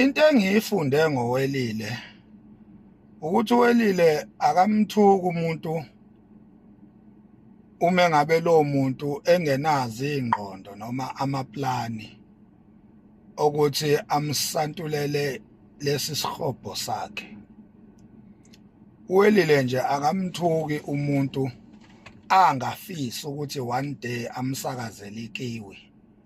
into engiyifunde ngowelile ukuthi uwelile akamthuki umuntu uma ngabe lo muntu engenazi ingqondo noma amaplani ukuthi amsantulele lesi sihobho sakhe uwelile nje akamthuki umuntu angafisi ukuthi one day amsakazele ikiwi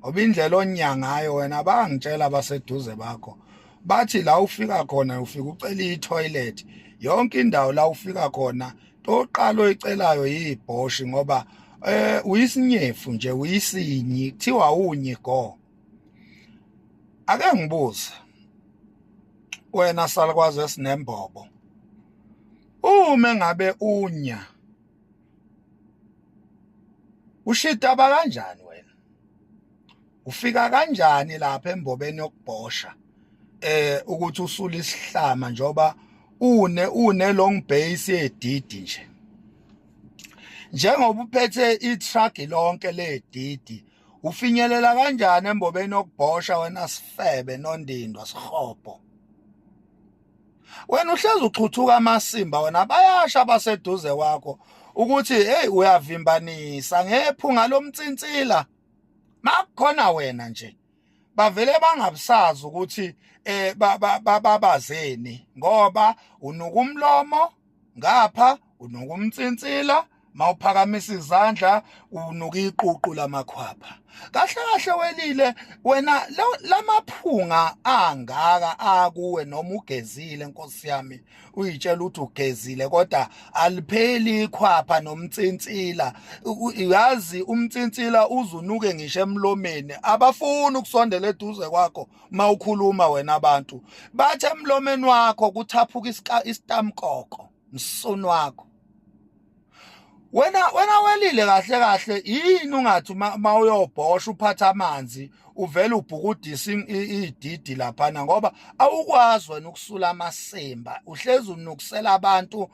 ngoba indlela onya ngayo wena bangitshela abaseduze bakho bathi la ufika khona ufika ucela i-toilet yonke indawo la ufika khona toqala oyicelayo yibhoshi ngoba eh uyisinyefu nje uyisinyi kuthiwa unyi go ake ngibuze wena salukwazi esinembobo uma ngabe unya ushita bakanjani wena ufika kanjani lapha embobeni yokubhosha eh ukuthi usula isihlama njoba une une long base yedidi nje njengoba uphethe i-truck lonke ledidi ufinyelela kanjani embobeni yokubhosha wena sifebe nondindwa sihobho wena uhlezi uxhuthuka amasimba wena bayasha abaseduze kwakho ukuthi hey uyavimbanisa ngephunga lomtsintsila makukhona wena nje bavele bangabusazi ukuthi eh babazeni ngoba unuka umlomo ngapha unuka umtsintsila mawuphakamisa izandla unuka iququ lamakhwapha kahle kahle welile wena lamaphunga angaka akuwe noma ugezile nkosi yami uyitshela ukuthi ugezile kodwa alipheli ikhwapha nomtsintsila uyazi umtsintsila uzunuke ngisho emlomeni abafuni ukusondela eduze kwakho mawukhuluma wena abantu bathe emlomeni wakho kuthaphuka isitamkoko msunu wakho wena wena welile kahle kahle yini ungathi uma uyobhosha uphatha amanzi uvele ubhukudisa ididi laphana ngoba awukwazi wena ukusula amasimba uhlezi unukusela abantu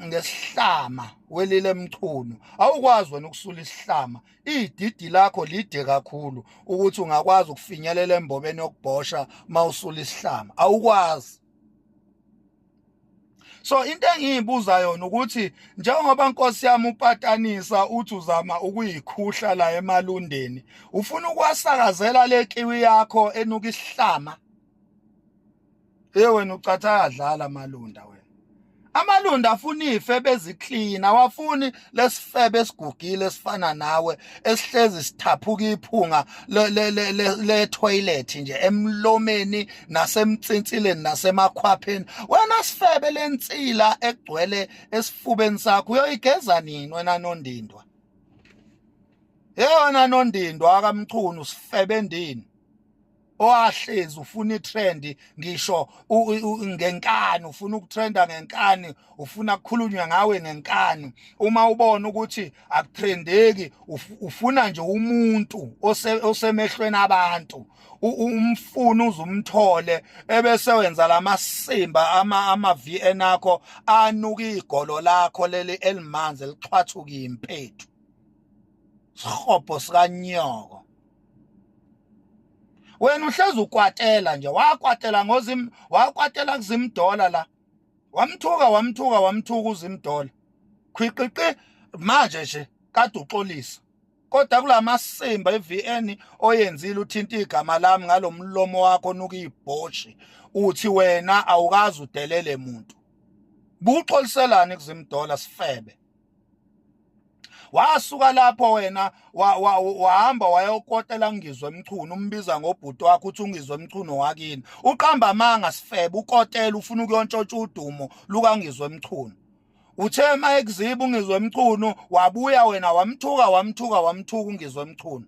ngesihlama welile emchunu awukwazi wena ukusula isihlama ididi lakho lide kakhulu ukuthi ungakwazi ukufinyelela embobeni yokubhosha mawusula isihlama awukwazi so into engiyibuza yona ukuthi njengoba nkosi yami upatanisa uthi uzama ukuyikhuhla la emalundeni ufuna ukuwasakazela le kiwi yakho enuka isihlama Hey wena ucatha adlala malunda wena. Amalunda afuna ife beziklina wafuni lesifebe esigugile esifana nawe esihlezi sithaphuka iphunga le le le, le toilet nje emlomeni nasemtsinsileni nasemakhwapheni wena sifebe lensila egcwele esifubeni sakho uyoyigeza nini wena nondindwa Yeyona nondindwa akamchunu sifebe endini owahlezi ufuna itrend ngisho ngenkani ufuna ukutrenda ngenkani ufuna kukhulunywa ngawe ngenkani uma ubona ukuthi akutrendeki ufuna nje umuntu osemehlweni abantu umfuna uzumthole ebese wenza lamasimba ama ama VN akho anuka igolo lakho leli elimanzi elixhwathuka impethu sihobo sikanyoko wena uhlezi ukwatela nje wakwatela ngozim wakwatela kuzimdola la wamthuka wamthuka wamthuka uzimdola khwiqiqi manje nje kade uxolisa kodwa kulamasimba eVN oyenzile uthinta igama lami ngalomlomo wakho nuka ibhoshi uthi wena awukazi udelele muntu buxoliselani kuzimdola sifebe wasuka lapho wena wahamba wa, wa, wayokotela ngizwe mchunu umbiza ngobhuti wakho uthi ungizwe mchunu wakini uqamba amanga sifebe ukotela ufuna ukuyontshotsha udumo lukangizwe mchunu uthe uma ekuziba ungizwe mchunu wabuya wena wamthuka wamthuka wamthuka ungizwe mchunu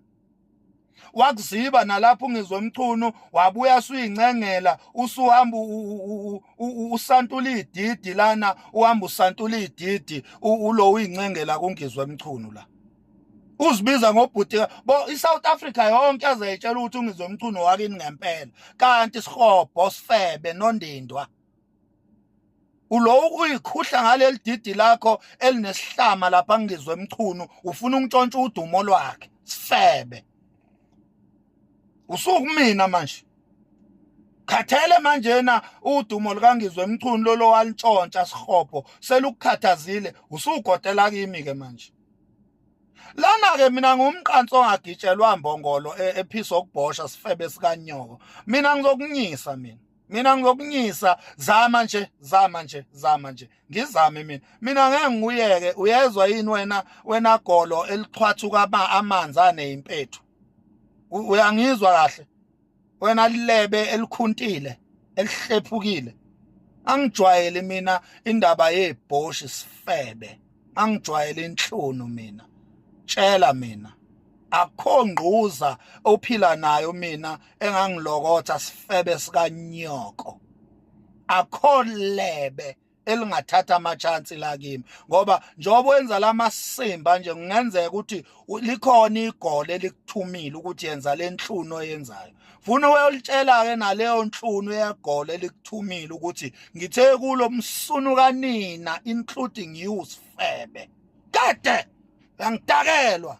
wakuziba nalapho ungizwe umchunu wabuya suyincengela usuhamba usantula ididi lana uhamba usantula ididi ulo uyincengela kungizwe umchunu la uzibiza ngobhuti bo iSouth Africa yonke azayitshela ukuthi ungizwe umchunu wakini ngempela kanti sihobho sifebe nondindwa ulowo uyikhuhla ngaleli didi lakho elinesihlama lapha ngizwe emchunu ufuna ukuntshontsha udumo lwakhe sifebe usuku mina manje khathele manje na udumo likangizwe emchunu lolo walintshontsha sihopho selukukhathazile usugotela kimi ke manje lana ke mina ngumqanso ongagitshelwa mbongolo e, ephisa okubhosha sifebe sikanyoko mina ngizokunyisa mina mina ngizokunyisa zama nje zama nje zama nje ngizame mina mina ngeke ngiyeke uyezwa yini wena wena golo elixhwathuka ba amanzi aneimpethu uyangizwa kahle wena lilebe elikhuntile elihlephukile angijwayele mina indaba yebhoshi sifebe angijwayele inhlunu mina tshela mina akho ngquza ophila nayo mina engangilokotha sifebe sikanyoko akho lebe elingathatha amachance la kimi ngoba njengoba wenza lamasimba nje kungenzeka ukuthi likhona igole elikuthumile ukuthi yenza lenhluno oyenzayo funa uyolitshela-ke naleyo nhlunu yegolo elikuthumile ukuthi ngithe kulo msunu kanina including you sifebe kade yangidakelwa